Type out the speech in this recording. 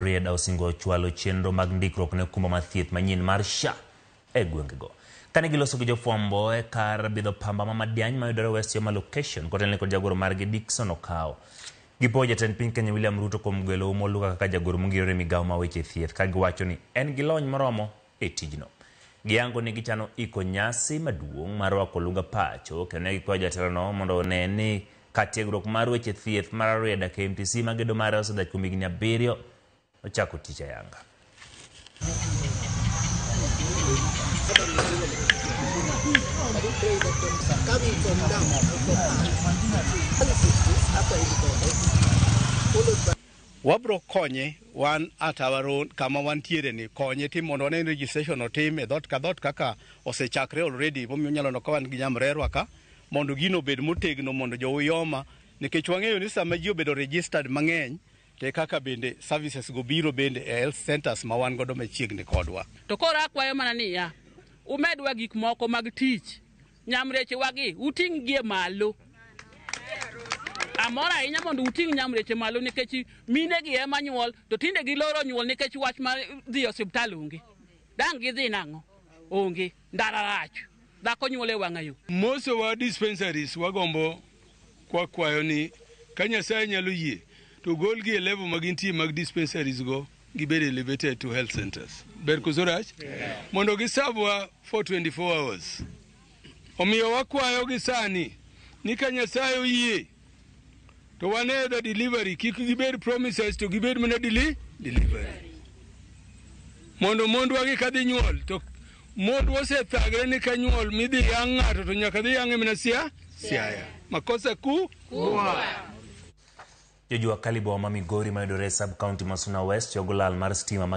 Rieda osingo chwalo chenro mag ndikruok ne okumba mar thieth manyien mar SHA e gwengego. Kane giloso gi jofwambo e kar bidho pamba ma Madiany mayudore West Yoma Location, kotelne kod jagoro margi Dickson Okawo. Gipowo jatend piny Kenya William Ruto kuom gwelo Oum Oluga kaka jagoro mongirore e migawo ma weche thieth, ka giwacho ni en gi lony moromo e tijno. Gihango ni gichano iko nyasi maduong' mar rwako olunga pacho kendo ne gikwayo jatelono mondo one ni ka tiegruok mar weche thieth mar Arieda KMTC ma gedo mare osedhach kuom higni abiriyo ochako tich ayanga. Wabro konye wan at our own kama wantiere ni konye tim mondo wane registration otim e dhot ka dhot kaka osechakre already momiyo nyalo no kawan gi nyamrerwa ka mondo gino obed motegno mondo jouyoma nikech wang'eyo ni sama ji obedo registered mang'eny te kaka bende services go biro bende e health centers ma wan godo machiegni kodwa. To koro akwayo mana niya, umedwa gik moko mag tich Nyamrechewagi, uting'gie malo. Amor ahinya mondo uting' nyamreche malo nikech minegi ema nyuol, to tinde giloro nyuol nikech wach mar dhi e osiptal onge. Dang' gidhi nang'o? Onge. Ndara rach. Dhako nyuol e wang'a yo. Most of our dispensaries wagombo kwakwayo ni ka Nyasaye nyalo yie to golgi e level ma gintie mag dispensaries go gibed elevated to health centers ber koso rach mondo gisabwa for 24 hours omiyo wakwayo gi sani ni ka nyasaye oyie to wan e the delivery kik gibed promises to gibed mana deli delivery mondo mondwa gi kadhi nyuol to mond osethagre ni ka nyuol midhi yang' ng'ato to nyaka dhi yang'e mana sia siaya makosa ku Jojua Kalibo ma Migori mayudore e sub-county ma Suna West chogo lal mar stima ma